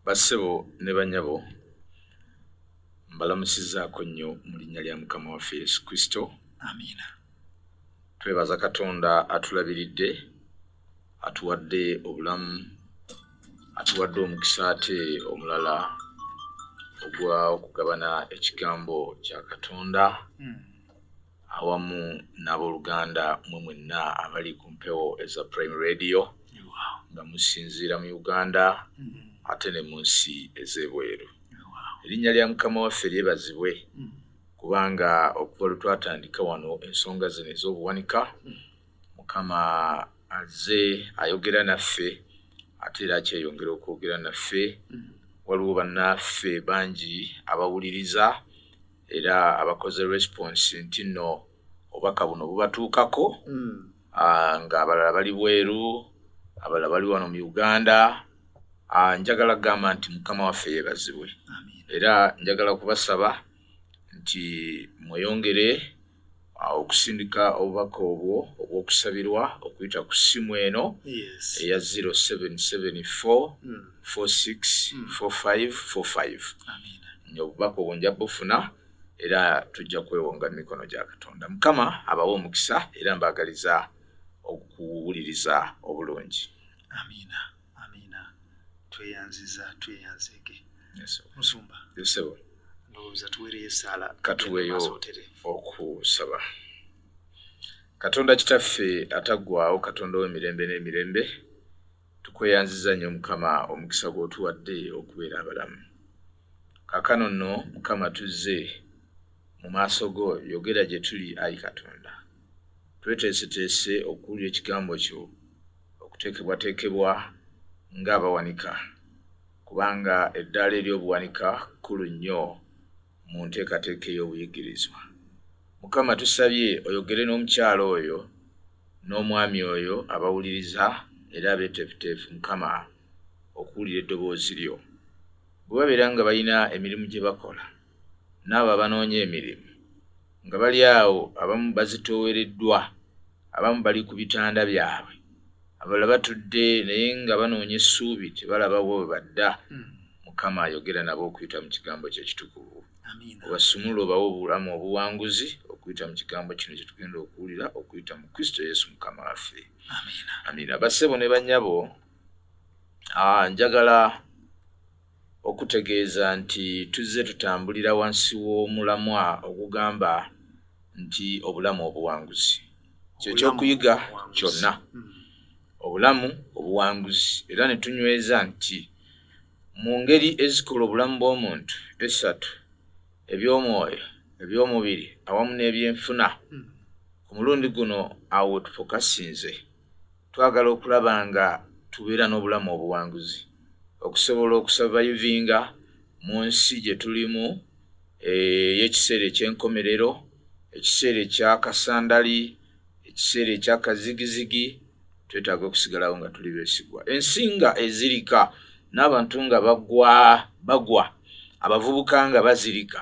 bassebo ne banyabo mbalamusizaako nnyo mu linnya lya mukama waffe yesu kristo amiina twebaza katonda atulabiridde atuwadde obulamu atuwadde omukisa ate omulala ogwa okugabana ekigambo kya katonda mm. awamu n'abooluganda mwe mwenna abali ku mpewo eza prime radio nga musinziira mu uganda mm-hmm. ate ne mu nsi ez'ebweru erinnya lya mukama waffe lyebazibwe mm-hmm. kubanga okuva lwe twatandika wano ensonga zino ez'obuwanika mm-hmm. mukama azze ayogera naffe ate era akyeyongera okwogera naffe waliwo bannaffe bangi abawuliriza era abakoze response nti no obubaka buno bubatuukako hmm. ah, nga abalala bali bweru abalala bali wano mu uganda ah, njagala kugamba nti mukama waffe yebazibwe era njagala kubasaba nti mweyongere okusindika obubaka obwo obw'okusabirwa okuyita ku ssimu eno eya 0774464545 hmm. obubaka obwo nja bufuna era tujja kwewonga mu mikono gya katonda mukama abawa omukisa era mbaagaliza okuwuliriza obulungi amiina amiina tweyanziza tweyanzeege musumba yesebo ndowooza tuweereyo esaala katuweeyo okusaba katonda kitaffe ataggwawo katonda w'emirembe n'emirembe tukweyanziza nnyo mukama omukisa gw'otuwadde okubeera abalamu kakano nno mukama tuzze mu maaso go yogera gye tuli ayi katonda tweteeseteese okuwulira ekigambo kyo okuteekebwateekebwa ng'abawanika kubanga eddaala ery'obuwanika kkulu nnyo mu nteekateeka ey'obuyigirizwa mukama tusabye oyogere n'omukyalo oyo n'omwami oyo abawuliriza era abeeteefuteefu mukama okuwulira eddoboozi lyo bwe babeera nga balina emirimu gye bakola n'abo abanoonya emirimu nga bali awo abamu bazitoowereddwa abamu bali ku bitanda byabwe abala batudde naye nga banoonya essuubi tebalabawo bwe badda hmm. mukama ayogera nabo okuyita mu kigambo kye kitukuvu obasumula obawo obulamu obuwanguzi okuyita mu kigambo kino kye tugenda okuwulira okuyita mu kristo yesu mukama waffe amiina bassebo ne banyabo ah, njagala Okutegeeza nti tuzze tutambulira wansi w'omulamwa ogugamba nti obulamu obuwanguzi kye ky'okuyiga kyonna, obulamu obuwanguzi, era ne tunyweza nti mu ngeri ezikola obulamu bw'omuntu essatu, eby'omwoyo, eby'omubiri awamu n'ebyenfuna, ku mulundi guno awo we tufokasinze. Twagala okulaba nga tubeera n'obulamu obuwanguzi okusobola okusavayivinga mu nsi gye tulimu ey'ekiseera eky'enkomerero, ekiseera ekya kasandali, ekiseera ekya kazigizigi. Twetaaga okusigalawo nga tuli beesigwa. Ensi nga ezirika n'abantu nga bagwa bagwa, abavubuka nga bazirika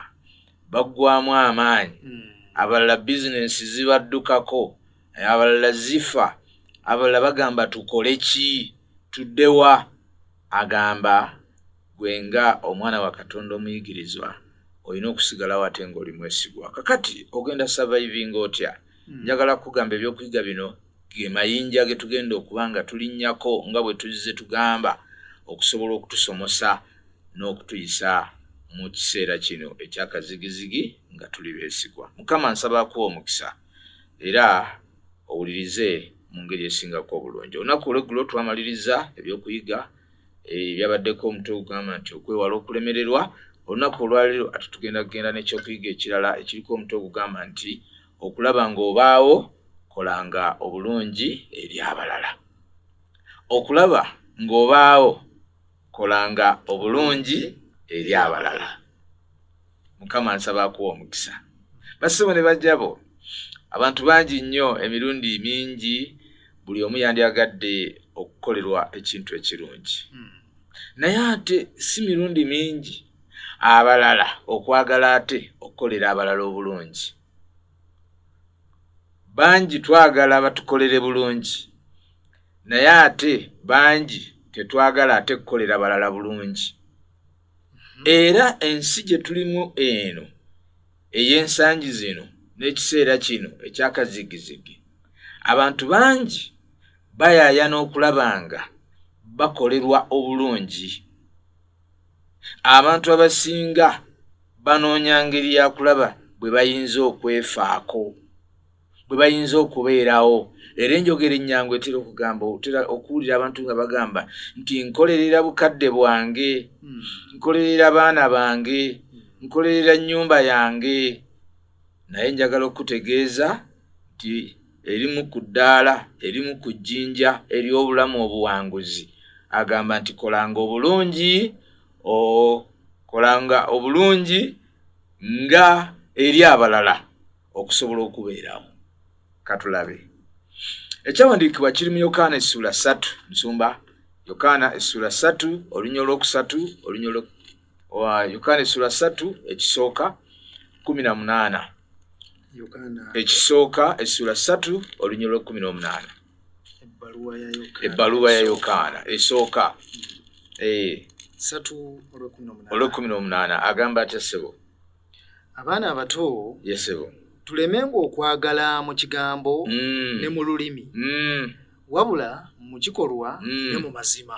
baggwamu amaanyi, hmm. abalala bizinensi zibaddukako. naye abalala zifa abalala bagamba tukole ki tuddewa agamba gwe nga omwana wa katonda omuyigirizwa olina okusigalawo ate ngaoli mwesigwa kakati ogenda survivinga otya hmm. njagala kugamba ebyokuyiga bino ge mayinja ge tugenda okuba nga tulinnyako nga bwe tuzze tugamba okusobola okutusomosa n'okutuyisa mu kiseera kino ekyakazigizigi nga tuli beesigwa mukama nsaba akuwa omukisa era owulirize mu ngeri esingako obulungi olunaku olweggulo twamaliriza ebyokuyiga eh, ebyabaddeko omutwe ogugamba nti okwewala okulemererwa olunaku olwaliro ati tugenda kugenda nekyokuyiga ekirala ekiriko omutwe ogugamba nti okulaba ngaobaawo kolanga obulungi eri abalala okulaba ngaobaawo kolanga obulungi eri abalala mukama nsaba akuwa omukisa basibo ne bajjabo abantu bangi nnyo emirundi mingi buli omu yandyagadde okukolerwa ekintu ekirungi hmm. naye ate si mirundi mingi abalala okwagala ate okukolera abalala obulungi bangi twagala batukolere bulungi naye ate bangi tetwagala ate kukolera balala bulungi hmm. era ensi gye tulimu eno ey'ensangi zino n'ekiseera kino ekyakazigizigi abantu bangi bayaayana okulaba nga bakolerwa obulungi abantu abasinga banoonya ngeri ya kulaba bwe bayinza okwefaako bwe bayinza okubeerawo era enjogera ennyangu etera okugamba otera okuwulira abantu nga bagamba nti nkolerera bukadde bwange hmm. nkolerera baana bange nkolerera nnyumba yange naye njagala okukutegeeza nti erimu ku ddaala erimu ku jjinja ery'obulamu obuwanguzi agamba nti kolanga obulungi okolanga obulungi nga eri abalala okusobola okubeerawo katulabe ekyawandiikibwa kiri mu yokaana essuula ssatu nsumba yokaana essuula ssatu olunya olwokusatu olunya yokaana essula ssatu ekisooka kumi na munaana ekisooka essula ssatu olunyolo lwekumi n'omunaana ebbaluwa ya yokaana esooka hmm. eh. olwekumi n'omunaana agamba atya ssebo abaana abato yesebo tuleme ngaokwagala mu kigambo hmm. ne mu lulimi hmm. wabula mu kikolwa ne mu mazima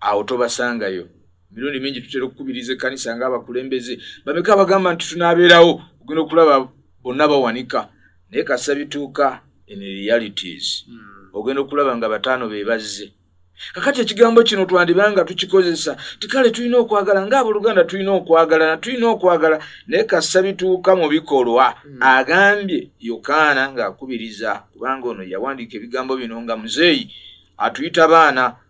awo tobasangayo emirundi mingi tutera okukubiriza ekkanisa ng'abakulembeze bameka abagamba nti tunaabeerawo ogenda okulaba bonna bawanika naye kasa bituuka in realities hmm. ogenda okulaba nga bataano be bazze kakati ekigambo kino twandiba nga tukikozesa tikale tulina okwagala ng'aboluganda tulina okwagala na tulina okwagala naye kasa bituuka mu bikolwa hmm. agambye yokaana ng'akubiriza kubanga ono yawandiika ebigambo bino nga muzeeyi atuyita baana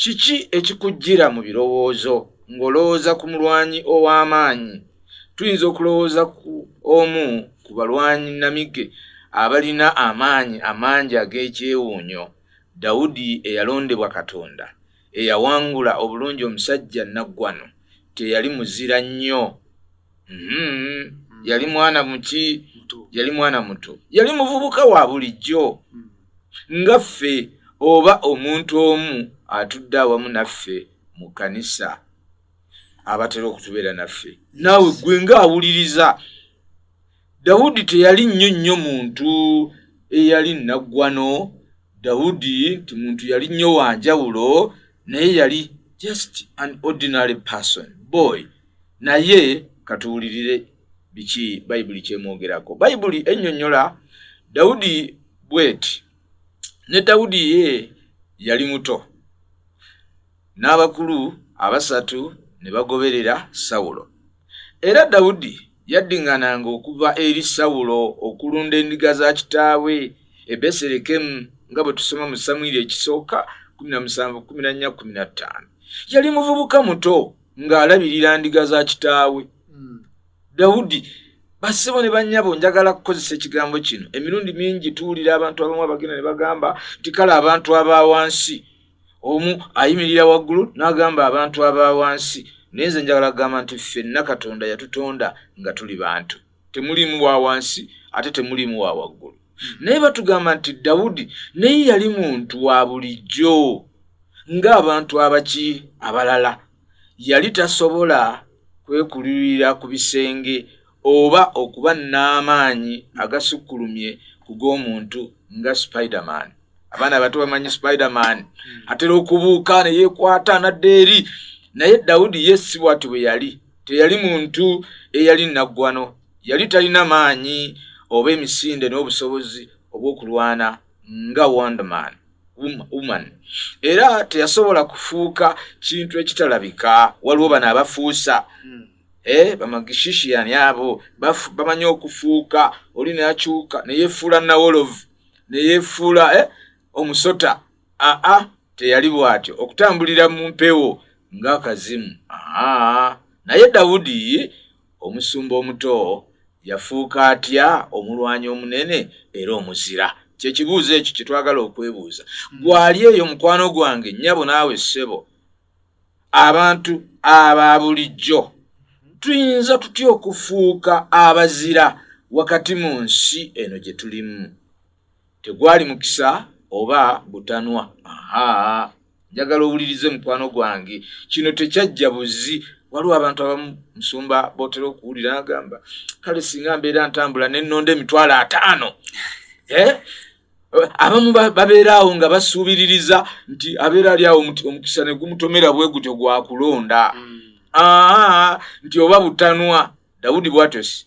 Kiki ekikujjira mu birowoozo ng'olowooza ku mulwanyi ow'amaanyi? Tuyinza okulowooza ku omu ku balwanyi nnamige abalina amaanyi amangi ag'ekyewuunyo, Dawudi eyalondebwa Katonda, eyawangula obulungi omusajja nnaggwano. Teyali muzira nnyo. Mm-hmm. yali mwana muki yali mwana muto yali muvubuka wa bulijjo mm. nga ffe oba omuntu omu atudde awamu naffe mu kkanisa abatera okutubeera naffe naawe gwe nga awuliriza Dawudi teyali nnyo nnyo muntu eyali nnaggwano. Dawudi nti muntu yali nnyo wa njawulo, naye yali just an ordinary person boy. Naye katuwulirire biki bayibuli kyemwogerako. Bayibuli ennyonnyola Dawudi bweti, ne Dawudi ye yali muto, n'abakulu abasatu ne bagoberera Sawulo. Era Dawudi yaddiŋŋananga okuva eri Sawulo okulunda endiga za kitaawe e Beserekemu nga bwe tusoma mu Samwiri ekisooka 17:14. Yali muvubuka muto ng'alabirira ndiga za kitaawe. Hmm. Dawudi bassebo ne bannyabo njagala kukozesa ekigambo kino. Emirundi mingi tuwulira abantu abamu abagenda ne bagamba nti kale abantu aba wansi omu ayimirira waggulu n'agamba abantu aba wansi naye nze njagala kugamba nti ffenna katonda yatutonda nga tuli bantu temuliimu wa wansi ate temuliimu wa waggulu naye batugamba nti dawudi naye yali muntu wa bulijjo ng'abantu abaki abalala yali tasobola kwekulirira ku bisenge oba okuba n'amaanyi agasukkulumye ku g'omuntu nga spiderman abaana abato bamanyi spiderman hmm. atera okubuuka ne yeekwata nadde eri naye dawudi ye si bwati bwe yali teyali muntu eyali naggwano yali talina maanyi oba emisinde n'obusobozi obw'okulwana nga wonderman woman era teyasobola kufuuka kintu ekitalabika waliwo bano abafuusa hmm. eh, bamagishishiyani abo bamanyi okufuuka oli nayakyuka neyefuula nawolovu neyefuula eh, omusota aa teyali bwatyo okutambulira mu mpewo ngaakazimu naye dawudi Omusumba omuto yafuuka atya omulwanyi omunene era omuzira? Kye kibuuzo ekyo kye twagala okwebuuza. Gwali eyo mukwano gwange, nnyabo naawe ssebo, abantu aba bulijjo tuyinza tutya okufuuka abazira wakati mu nsi eno gye tulimu? tegwali mukisa oba butanwa aha njagala owulirize mukwano gwange kino tekyajja buzi waliwo abantu abamu musumba botera okuwulira agamba kale singa mbeera ntambula nenonda emitwalo ataano eh? abamu babeera awo nga basuubiririza nti abeera ali awo omukisa ne gumutomera bwe gutyo gwakulonda hmm. nti oba butanwa dawudi bwatyosi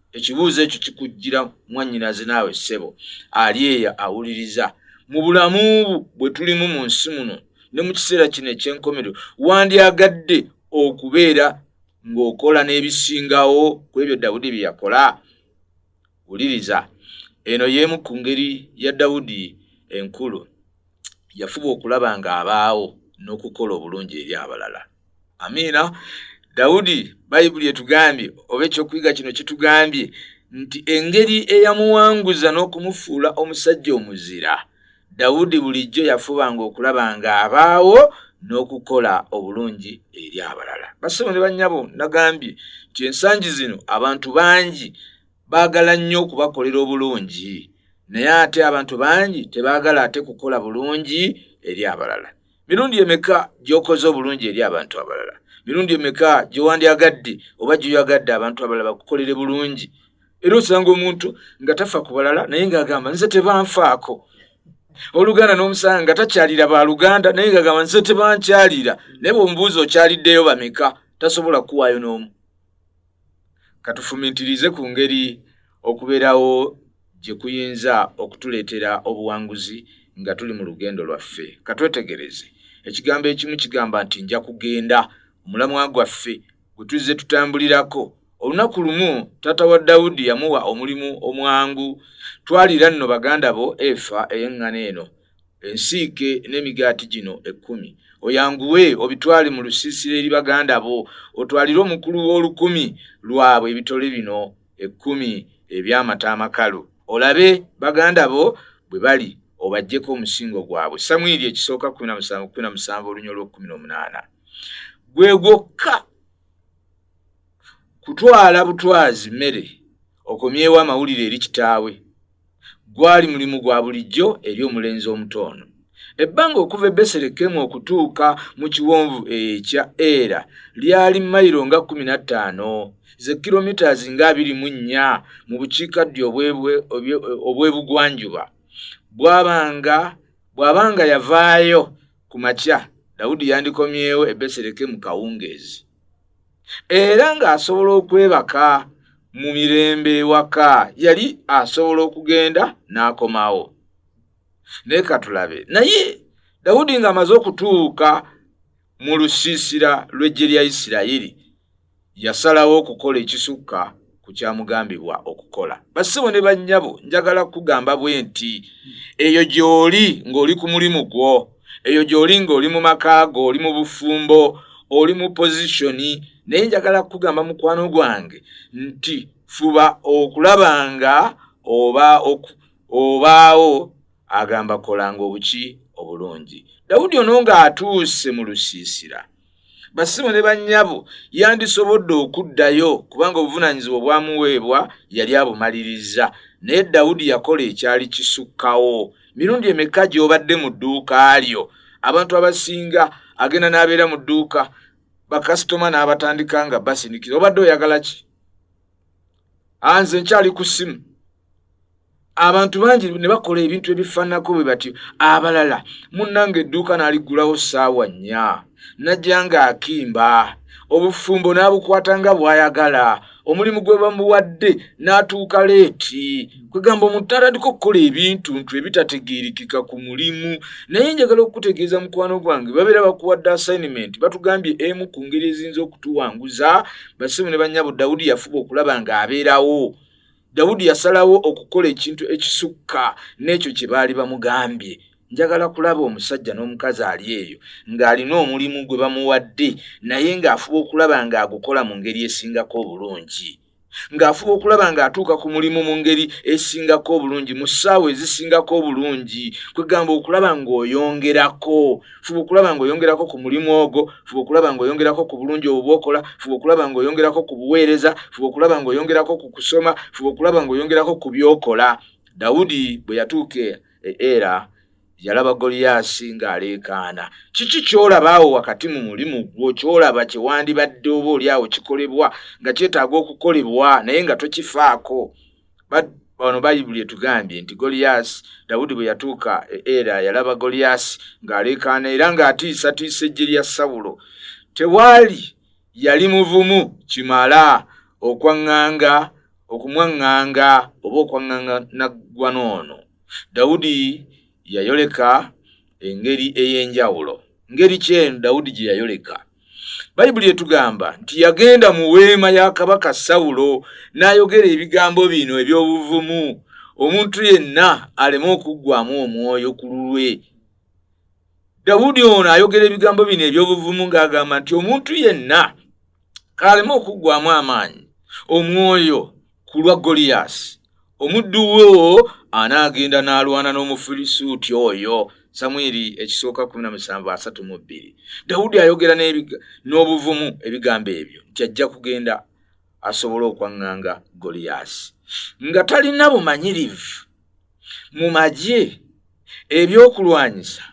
ekibuuzo ekyo kikujjira mwannyinaze naawe ssebo ali eyo awuliriza mu bulamu bwe tulimu mu nsi muno ne mu kiseera kino eky'enkomerero wandyagadde okubeera ng'okola n'ebisingawo ku ebyo dawudi bye yakola wuliriza eno y'emu ku ngeri ya dawudi enkulu yafuba okulaba ng'abaawo n'okukola obulungi eri abalala amiina dawudi bayibuli etugambye oba ekyokuyiga kino kitugambye nti engeri eyamuwanguza n'okumufuula omusajja omuzira dawudi bulijjo yafubanga okulaba nga abaawo n'okukola obulungi eri abalala basebo ne bannyabo nagambye nti ensangi zino abantu bangi baagala nnyo okubakolera obulungi naye ate abantu bangi tebaagala ate kukola bulungi eri abalala mirundi emeka gy'okoze obulungi eri abantu abalala mirundi emeka gyewandyagadde oba gyoyagadde abantu abalala bakukolere bulungi era osanga omuntu nga tafa ku balala naye ngaagamba nze tebanfaako oluganda n'omusanga nga takyalira ba luganda naye ngaagamba nze tebankyalira naye bweomubuuzi okyaliddeyo bameka tasobola kukuwaayo n'omu Katufumintirize ku ngeri okubeerawo gye kuyinza okutuleetera obuwanguzi nga tuli mu lugendo lwaffe. Katwetegereze. Ekigambo ekimu kigamba nti nja kugenda. Omulamwa gwaffe gwe tuzze tutambulirako. Olunaku lumu taata wa Dawudi yamuwa omulimu omwangu. Twalira nno baganda bo efa ey'eŋŋano eno. ensiike n'emigaati gino ekkumi oyanguwe obitwale mu lusiisira eri baganda bo otwalire omukulu w'olukumi lwabwe ebitole bino ekkumi eby'amata amakalu olabe baganda bo bwe bali obajjeko omusingo gwabwe samwiri ekisooka kumi na musanvu kumi na musanvu olunya olw'okkumi n'omunaana gwe gwokka kutwala butwazi mmere Okomyewo amawulire eri kitaawe. Gwali mulimu gwa bulijjo eri omulenzi omuto ono. Ebbanga okuva e Beselekemu okutuuka mu kiwonvu ekya Era lyali mayiro nga kkumi na ttaano ze kilomitas nga abiri mu nnya mu bukiikaddyo obw'ebugwanjuba. Bwabanga bwabanga yavaayo ku makya, Dawudi yandikomyewo e Beselekemu kawungeezi. era ng'asobola okwebaka mu mirembe ewaka yali asobola okugenda n'akomawo naye katulabe naye dawudi ng'amaze okutuuka mu lusiisira lw'eggye lya isirayiri yasalawo okukola ekisukka ku kyamugambibwa okukola basibo ne bannyabo njagala kukugamba bwe nti eyo gy'oli ng'oli ku mulimu gwo eyo gy'oli ng'oli mu maka go oli mu bufumbo oli mu pozishoni naye njagala kukugamba mukwano gwange nti fuba okulaba nga oba obaawo agamba kolanga obuki obulungi dawudi ono ng'atuuse mu lusiisira basimu ne bannyabo yandisobodde okuddayo kubanga obuvunaanyizibwa obwamuweebwa yali abumalirizza naye dawudi yakola ekyali kisukkawo mirundi emeka gy'obadde mu dduuka lyo abantu abasinga agenda n'abeera mu dduuka bakasitoma n'abatandika nga basindikira obadde oyagala ki anze nkyali ku simu abantu bangi ne bakola ebintu ebifaananako bwe batyo abalala munnanga edduuka n'aliggulawo ssaawa nnya najja ng'akimba obufumbo n'abukwata nga bw'ayagala omulimu gwe bamuwadde n'atuuka leeti kwegamba omuntu atandika okukola ebintu ntu ebitategeerekeka ku mulimu naye njagala okukutegeeza mukwano gwange babeera bakuwadde assignment batugambye emu ku ngeri eziyinza okutuwanguza basimu ne bannyabo dawudi yafuba okulaba ng'abeerawo dawudi yasalawo okukola ekintu ekisukka n'ekyo kye baali bamugambye njagala kulaba omusajja n'omukazi ali eyo ng'alina omulimu gwe bamuwadde naye ng'afuba okulaba ng'agukola mu ngeri esingako obulungi ng'afuba okulaba ng'atuuka ku mulimu mu ngeri esingako obulungi mu ssaawa ezisingako obulungi kwegamba okulaba ng'oyongerako fuba okulaba ng'oyongerako ku mulimu ogwo fuba okulaba ng'oyongerako ku bulungi obwo bwokola fuba okulaba ng'oyongerako ku buweereza fuba okulaba ng'oyongerako ku kusoma fuba okulaba ng'oyongerako ku byokola dawudi bwe yatuuka e, e, era yalaba goliyaasi ng'aleekaana kiki ky'olaba awo wakati mu mulimu gwo ky'olaba kye wandibadde oba oli awo kikolebwa nga kyetaaga okukolebwa naye nga tokifaako bano bayibuli etugambye nti goliyaasi dawudi bwe yatuuka e era yalaba goliyaasi ng'aleekaana era ng'atiisatiisa ejje lya sawulo tewaali yali muvumu kimala okwaŋŋanga okumwaŋŋanga oba okwaŋŋanga naggwa noono dawudi yayoleka engeri ey'enjawulo ngeri kyeyo dawudi gye yayoleka bayibuli etugamba nti yagenda mu weema ya kabaka sawulo n'ayogera ebigambo bino eby'obuvumu omuntu yenna aleme okuggwamu omwoyo ku lulwe dawudi ono ayogera ebigambo bino eby'obuvumu ng'agamba nti omuntu yenna kaaleme okuggwamu amaanyi omwoyo ku lwa goliyaasi omuddu wo anaagenda n'alwana n'omufirisuuti oyo samwiri ekisooka 1732 dawudi ayogera n'obuvumu ebigambo ebyo nti ajja kugenda asobole okwaŋŋanga goliyaasi nga talina bumanyirivu mu magye ebyokulwanyisa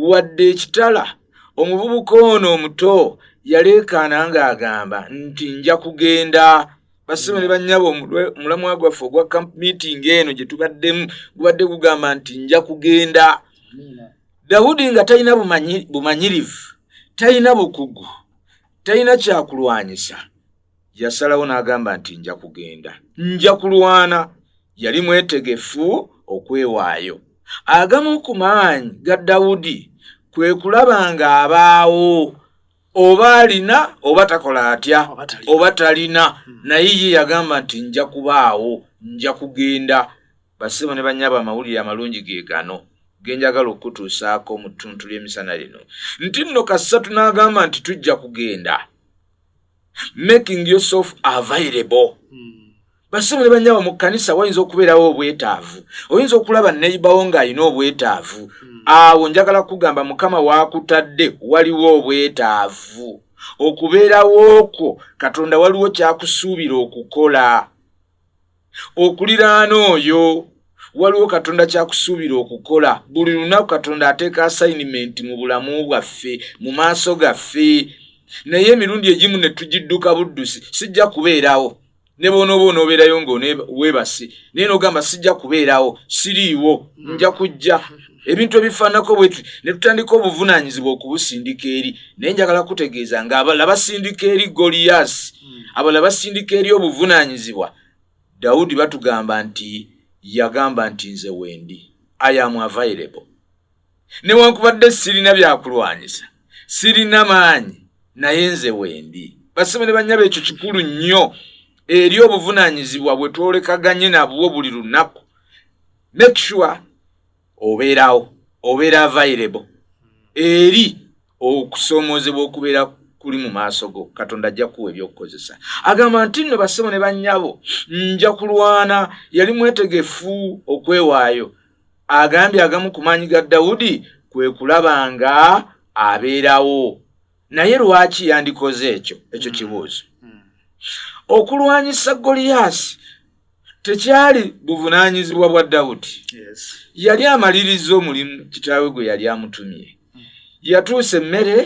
wadde ekitala omuvubuka ono omuto yaleekaana ng'agamba nti nja kugenda basebo ne bannyabo omulamwa gwaffe ogwa camp meeting eno gye tubaddemu gubadde gugamba nti nja kugenda dawudi nga talina bumanyirivu talina bukugu talina kyakulwanyisa Yasalawo n'agamba nti nja kugenda, nja kulwana. Yali mwetegefu okwewaayo. Agamu ku maanyi ga Dawudi kwe kulaba ng'abaawo oba alina oba takola atya oba talina, hmm. naye ye yagamba nti nja kubaawo, nja kugenda. Bassebo ne bannyabo amawulire amalungi ge gano ge njagala okukutuusaako mu ttuntu ly'emisana lino, nti nno kasatu n'agamba nti tujja kugenda. making yourself available hmm. basibule banyabo mu kanisa wayinza okubeerawo obwetaavu oyinza okulaba neibawo ng'alina obwetaavu hmm. awo njagala kugamba mukama wakutadde waliwo obwetaavu okubeerawo okwo katonda waliwo kyakusuubira okukola okuliraana oyo waliwo katonda kyakusuubira okukola buli lunaku katonda ateeka asayinimenti mu bulamu bwaffe mu maaso gaffe naye emirundi egimu ne tugidduka buddusi sijja kubeerawo ne boonooba onoobeerayo ngaweebase naye nogamba sijja kubeerawo siriiwo nja kujja ebintu ebifaanako bwetyo ne tutandika obuvunaanyizibwa okubusindika eri naye njagala kutegeeza nga abala basindika eri goliyaasi hmm. abala basindika eri obuvunaanyizibwa dawudi batugamba nti yagamba nti nze wendi ayamu avairebo newankubadde sirina byakulwanyisa sirina maanyi naye nze wendi basome ne banyaba ekyo kikulu nnyo eri obuvunaanyizibwa bwe twolekaganye nabwo buli lunaku make sure obeerawo obeera available eri okusoomoozebwa okubeera kuli mu maaso go katonda ajja kuwa ebyokukozesa agamba nti nno bassebo ne bannyabo nja kulwana yali mwetegefu okwewaayo agambye agamu ku maanyi ga dawudi kwe kulaba nga abeerawo naye lwaki yandikoze ekyo ekyo hmm. kibuuzo hmm. okulwanyisa goliyaasi tekyali buvunaanyizibwa bwa dawudi yali amaliriza omulimu kitaawe gwe yali amutumye hmm. yatuusa emmere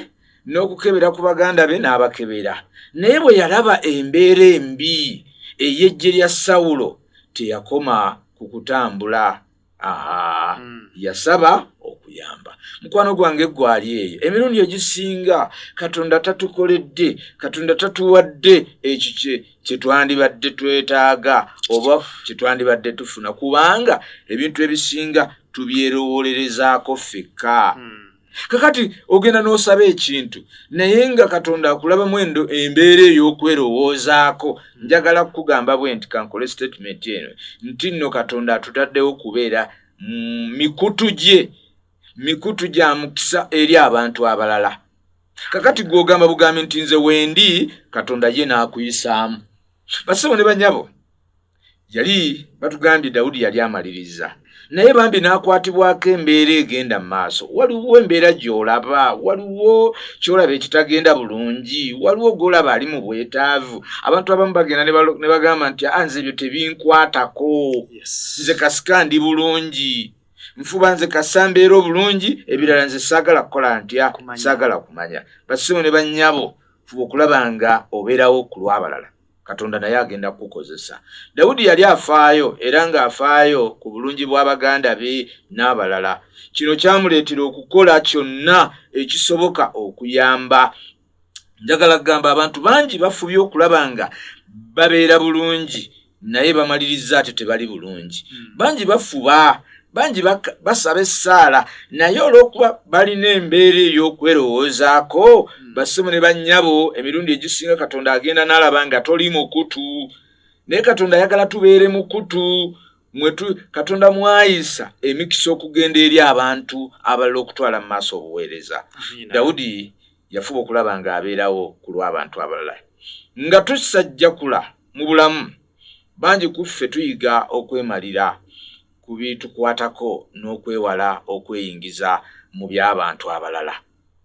n'okukebera ku baganda be n'abakebera naye bwe yalaba embeera embi ey'eggye lya sawulo teyakoma ku kutambula Hmm. yasaba okuyamba mukwano gwange gwali eyo emirundi egisinga katonda tatukoledde katonda tatuwadde ekyo kyetwandibadde twetaaga oba kyetwandibadde tufuna kubanga ebintu ebisinga tubyerowolerezaako fekka hmm. kakati ogenda n'osaba ekintu naye nga katonda akulabamu endo embeera ey'okwerowoozaako njagala kukugamba bwe nti kankole sitatimenti eno nti nno katonda atutaddewo kubeera mm, mikutu gye mikutu gya mukisa eri abantu abalala kakati gw'ogamba bugambi nti nze wendi katonda ye n'akuyisaamu basebo ne banyabo yali batugambye dawudi yali amaliriza naye bambi n'akwatibwako embeera egenda mu maaso waliwo embeera gy'olaba waliwo ky'olaba ekitagenda bulungi waliwo gw'olaba ali mu bwetaavu abantu abamu bagenda ne bagamba nti a ah, nze ebyo tebinkwatako nze kasika ndi bulungi nfuba nze kasambeera obulungi ebirala nze saagala kukola ntya saagala kumanya basimu ne bannyabo fuba okulaba nga obeerawo ku lw'abalala katonda naye agenda kukukozesa dawudi yali afaayo era ng'afaayo ku bulungi bw'abaganda be n'abalala kino kyamuleetera okukola kyonna ekisoboka okuyamba njagala kugamba abantu bangi bafubye okulaba nga babeera bulungi naye bamaliriza ate tebali bulungi hmm. bangi bafuba bangi basaba essaala naye olw'okuba balina embeera ey'okwerowoozaako hmm. basimu ne bannyabo emirundi egisinga katonda agenda n'alaba nga toli mukutu naye katonda ayagala tubeere mukutu mwetu katonda mwayisa emikisa okugenda eri abantu abalala okutwala mu maaso obuweereza dawudi yafuba okulaba ng'abeerawo ku lw'abantu abalala nga tusajjakula mu bulamu bangi ku ffe tuyiga okwemalira ku bitukwatako n'okwewala okweyingiza mu by'abantu abalala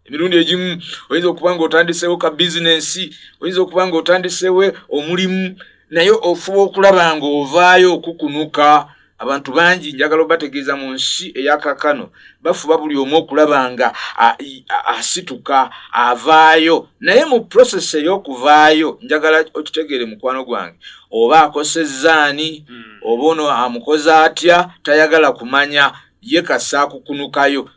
emirundi egimu oyinza okuba nga otandiseewo ka bizinensi oyinza okuba nga otandiseewo omulimu naye ofuba okulaba nga ovaayo okukunuka abantu bangi njagala obategeeza mu nsi eyakakano bafuba buli omu okulaba nga asituka avaayo naye mu prosesi ey'okuvaayo njagala okitegeere mukwano gwange oba akosezza ani hmm. oba ono amukoze atya tayagala kumanya ye kasa akukunukayo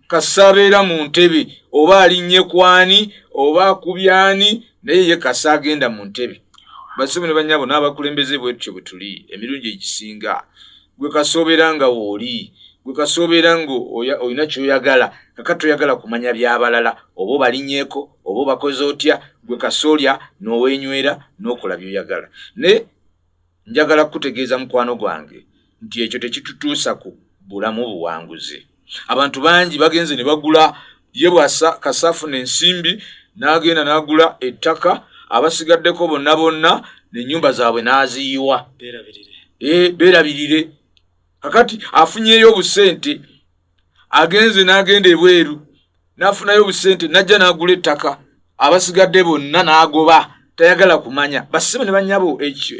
kasa abeera mu ntebe oba alinnye kwani oba akubyani naye ye kasa agenda mu ntebe basibu ne banyabo n'abakulembeze bwetutyo bwe tuli emirundi egisinga gwe kasa obeera nga wooli gwe kasa obeera nga olina kyoyagala kaka toyagala kumanya byabalala oba obalinyeeko oba obakoze otya gwe kasolya nowenywera nokola byoyagala ne njagala kukutegeeza mukwano gwange nti ekyo tekitutuusa ku bulamu buwanguzi abantu bangi bagenze ne bagula ye bwasa kasafu nensimbi nagenda nagula ettaka abasigaddeko bonna bonna nenyumba zaabwe naziyiwa berabirire eh, kakati afunyeyo obusente agenze n'agenda ebweru n'afunayo obusente n'ajja n'agula ettaka abasigadde bonna n'agoba tayagala kumanya basibe ne banyabo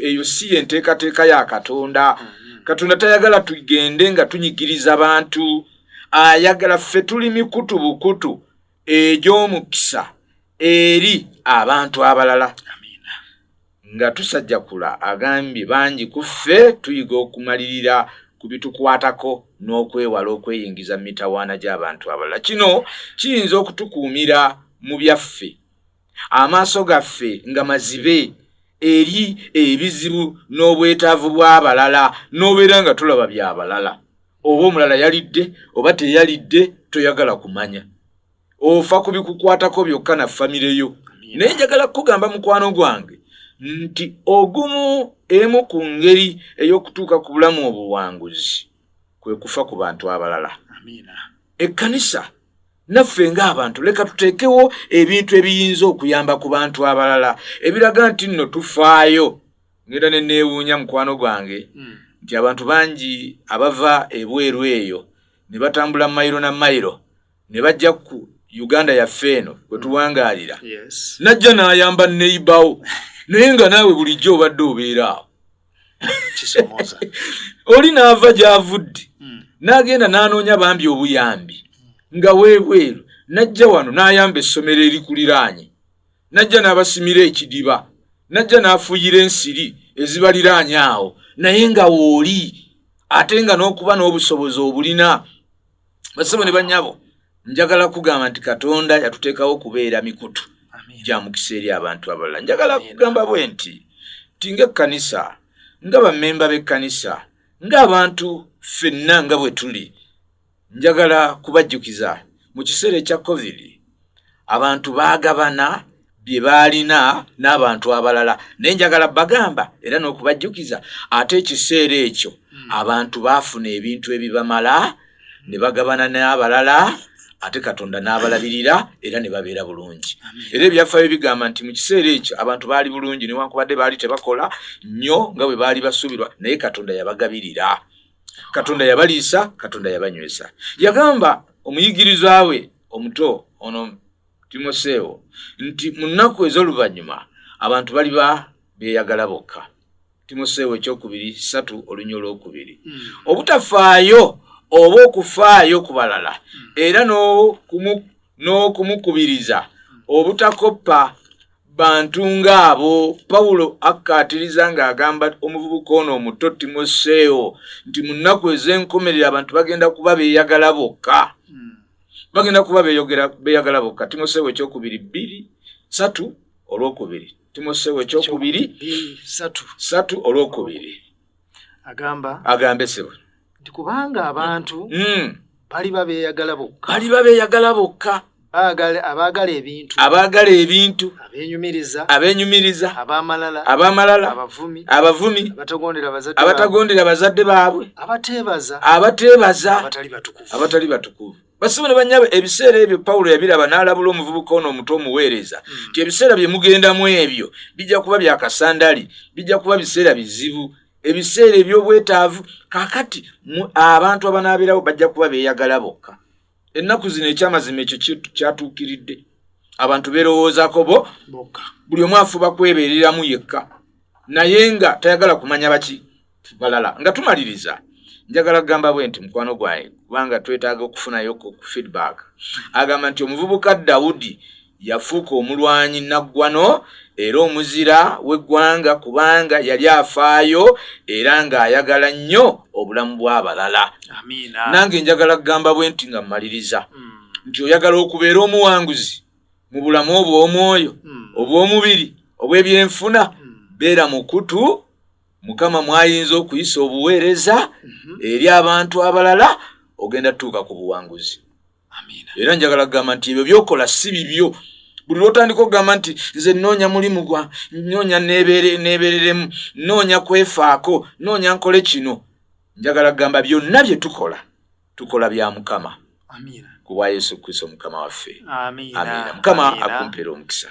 eyo si ye nteekateeka ya katonda mm-hmm. katonda tayagala tugende nga tunyigiriza bantu ayagala ffe tuli mikutu bukutu egy'omukisa eri abantu abalala Nga Tusajakula agambye bangi ku ffe tuyiga okumalirira ku bitukwatako n'okwewala okweyingiza mu mitawaana gy'abantu abalala. Kino kiyinza okutukuumira mu byaffe, amaaso gaffe nga mazibe eri ebizibu n'obwetaavu bw'abalala n'obeera nga tulaba bya balala. Oba omulala yalidde oba teyalidde toyagala kumanya. ofa ku bikukwatako byokka na famire yo naye njagala kukugamba mukwano gwange nti ogumu emu ku ngeri ey'okutuuka ku bulamu obuwanguzi kwe kufa ku bantu abalala ekkanisa naffe ng'abantu leka tuteekewo ebintu ebiyinza okuyamba ku bantu abalala ebiraga nti nno tufaayo ngenda ne neewuunya mukwano gwange hmm. nti abantu bangi abava ebweru eyo ne batambula mayiro na mayiro ne bajja ku uganda yaffe eno kwe tuwangaalira najja n'ayamba neibawo naye nga naawe bulijjo obadde obeeraawo oli n'ava gy'avudde hmm. n'agenda n'anoonya bambi obuyambi hmm. nga weebweru najja wano n'ayamba essomero erikuliraanye najja n'abasimira ekidiba najja n'afuyira ensiri ezibaliraanye awo naye nga wooli ate nga n'okuba n'obusobozi obulina basibo ne banyabo njagala kugamba nti katonda yatuteekawo okubeera mikutu gya mukisa eri abantu abalala njagala kugamba bwe nti ti ngaekkanisa nga bamemba b'ekkanisa ng'abantu ffenna nga bwe tuli njagala kubajjukiza mu kiseera ekya covid abantu baagabana bye baalina n'abantu abalala naye njagala bagamba era n'okubajjukiza ate ekiseera ekyo hmm. abantu baafuna ebintu ebibamala ne bagabana n'abalala ate katonda n'abalabirira era ne babeera bulungi era ebyafaayo bigamba nti mu kiseera ekyo abantu baali bulungi newankubadde baali tebakola nnyo nga bwe baali basuubirwa naye katonda yabagabirira katonda yabaliisa katonda yabanywesa yagamba omuyigirizwa we omuto ono timoseewo nti mu nnaku ez'oluvannyuma abantu bali ba beeyagala bokka timoseewo ekyokubiri satu olunya olwokubiri hmm. obutafaayo oba okufaayo ku balala hmm. era n'okumukubiriza obutakoppa bantu ng'abo pawulo akkaatiriza ng'agamba omuvubuka ono omuto timoseewo nti mu nnaku ez'enkomerero abantu bagenda kuba beeyagala bokka hmm. bagenda kuba beeyagala bokka timoseewo ekyokubiri bbiri satu olwokubiri timoseewo ekyokubiri satu olwokubiri agamba agambe sebo nti kubanga abantu mm. baliba beeyagala bokka baliba beeyagala bokka abaagala ebintu abaagala ebintu abenyumiriza abenyumiriza abamalala abamalala abavumi abavumi abatagondera bazadde baabwe abateebaza abateebaza abatali batukuvu basibone banyabo ebiseera ebyo pawulo yabiraba n'alabula omuvubuka ono omuto omuweereza hmm. nti ebiseera bye mugendamu ebyo bijja kuba byakasandali bijja kuba biseera bizibu ebiseera eby'obwetaavu kakati abantu abanaabeerawo bajja kuba beeyagala bokka ennaku zino ekyamazima ekyo kyatuukiridde abantu beerowoozaako bo bokka buli omu afuba kwebeereramu yekka naye nga tayagala kumanya baki balala nga tumaliriza njagala kugamba bwe nti mukwano gwange kubanga twetaaga okufunayo ku feedback agamba nti omuvubuka dawudi yafuuka omulwanyi naggwano era omuzira w'eggwanga kubanga yali afaayo era ng'ayagala nnyo obulamu bw'abalala nange njagala kugamba bwe nti nga mmaliriza hmm. nti oyagala okubeera omuwanguzi mu bulamu obw'omwoyo hmm. obw'omubiri obw'ebyenfuna hmm. beera mukutu mukama mwayinza okuyisa obuweereza mhm. eri abantu abalala ogenda tutuuka ku buwanguzi era njagala kugamba nti ebyo byokola si bibyo buli lwotandika okugamba nti nze noonya mulimu gwa noonya neebereremu noonya kwefaako noonya nkole kino njagala kugamba byonna bye tukola tukola bya mukama kubwa yesu kristo mukama waffe amiina mukama akumpera omukisa